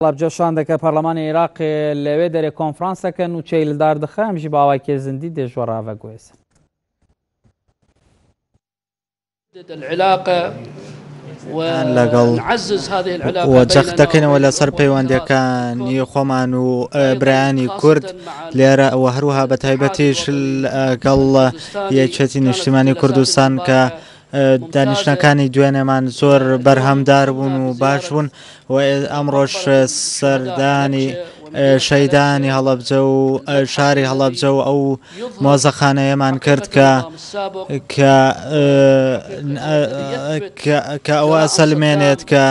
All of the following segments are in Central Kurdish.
هەڵەبجە شاندەکە پەرلەمانی ئیراق لەێ دەێ کۆنفرانس دەکەن و چەیل دار دخە ئەمژی باوای کێ زندی دێ ژۆ ڕاڤە گوێزن. لەگەڵ وە جەخت دەکەینەوە لەسەر پەیوەندەکانی خۆمان و برایانی کورد لێرە ئەوە هەروها بە تایبەتیش گەڵ یەکێتی نیشتیمانی کوردستان کە دانیشتنەکانی دوێنێمان زۆر بەرهەمدار بوون و باش بوون و ئەمڕۆش سەردانی شەیدانی هەڵەبجە و شاری هەڵەبجە و ئەو مۆزەخانەیەمان کرد کە کە ئەوە سەلمێنێت کە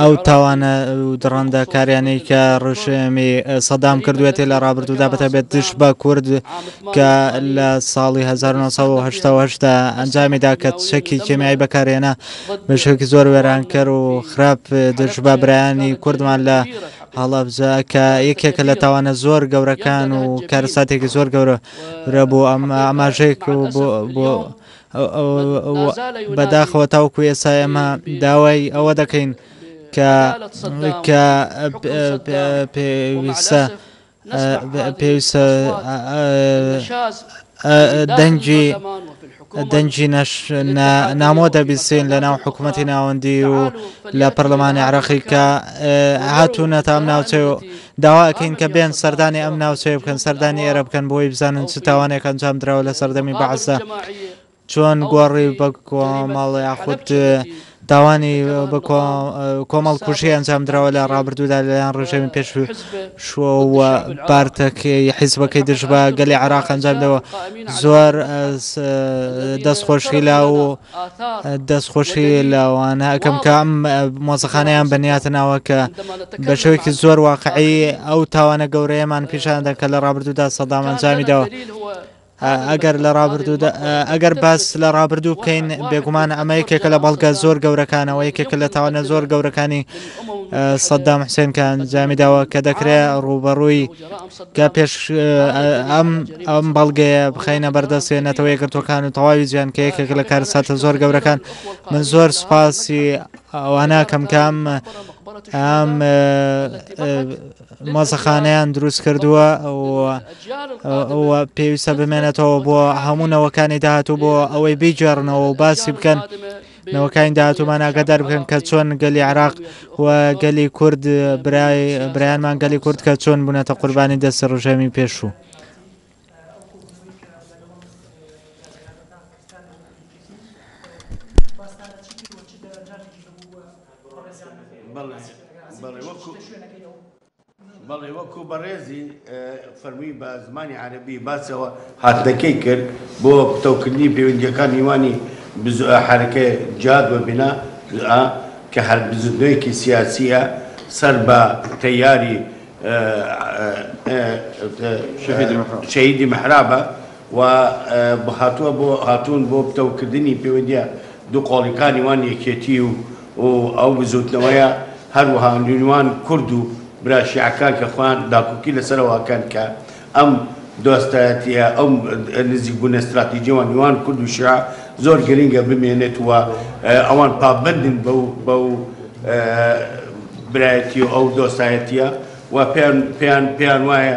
ئەو تاوانە دڕندە کاریانی کە ڕژێمی سەدام کردوێتی لە ڕابردوودا بەتەبێت دش بە کورد کە لە ساڵی 1970 دا ئەنجامی دا کە چەکی کێمیایی بەکارهێنا بە شێوەیەکی زۆر وێرانکەر و خراپ دژ بە برایانی کوردمان لە هەڵەبجە کە یەکێکە لە تاوانە زۆر گەورەکان و کارەساتێکی زۆر گەورە رەبوو ئەم ئاماژەیەک بۆ بەداخەوە تاوکو ئێستا ئێمە داوای ئەوە دەکەین کە کە پێویستە پێویستە دەنگی دەنگی نامۆ دەبیسین لە ناو حکوومەتی ناوەندی و لە پەرلەمانی عراقی کە هاتوونە تام ناوچێ و داواکەین کە بێن سەردانی ئەم ناوچەیە بکەن سەردانی ئێرە بکەن بۆی بزانن چ تاوانێک ئەنجام درراوە لە سەردەمی بەعسدا چۆن گۆڕی بە کۆمەڵ یاخود تاوانی بە کۆمەڵ کوشی ئەنجامدراوە لە ڕابردوودا لەلایەن ڕژێمی پێش شووە پارتەکەی حیزبەکەی دژ بە گەلی عراق ئەنجامدەوە زۆر دەستخۆشی لا و دەستخۆشی لاوانە ئەەکەم کە ئەم مۆزەخانەیان بەنیاتە ناوە کە بە شوێکی زۆر واقعی ئەو تاوانە گەورەیەمان پیشاندە کە لە ڕابردوودا سەدامەنجامیدەوە. ئەگەر لە ڕابردوودا ئەگەر باس لە ڕابردوو بکەین بێگومان ئەمە یەکێکە لە بەڵگە زۆر گەورەکانەوە یەکێکە لە تاوانە زۆر گەورەکانی سەددام حسێنکان جامی داوە کە دەکرێت ڕوبەڕووی کە پێش ئەم ئەم بەڵگەیە بخینە بەردەستێ نەتەوە یەکگرتوەکان و تەواوی جیان کە یەکێک لە کارساتە زۆر گەورەکان من زۆر سپاسی ئەوانە کەمکام ئەم مۆزەخانەیان دروست کردووە و پێویستە بمێنێتەوە بۆ هەموو نەوەکانی داهاتوو بۆ ئەوەی بیگێڕنەوە و باسی بکەن نەوەکانی داهاتوومانناگە دەربکەن کە چۆن گەلی عراق و گەلی کورد برای برایانمان گەلی کورد کە چۆن بوونەتە قوربانی دەستی ڕژێمی پێشوو. بەڵێ وەکو بەڕێزی فەرمی بە زمانی عربی باسەوە هاتنەکەی کرد بۆ پتەوکردنی پەیوەندیەکان نیوانی حرەکە جاد بە بنا کە هەر بزودنەوەیەکی سیاسیە سەر بە تەیاری شەهیدی محرابە و هاتوە بۆ هاتوون بۆ پتەو کردنی پەیوەندیە دوو قۆڵیکانی وان یەکێتی و و ئەو بزوتنەوەیە هەروەها نیوان کورد و برا شیعەکان کە خۆیان داکوکی لە سەرەوە ئەکەن کە ئەم دۆستایەتیە ئەم نزیک بونە ستراتیجی وان نیوان کورد و شیعە زۆر گرینگە بمێنێت و ئەوان پابەندن بەو بەو برایەتی و ئەو دۆستایەتیە و پێیان پێیان پێیان وایە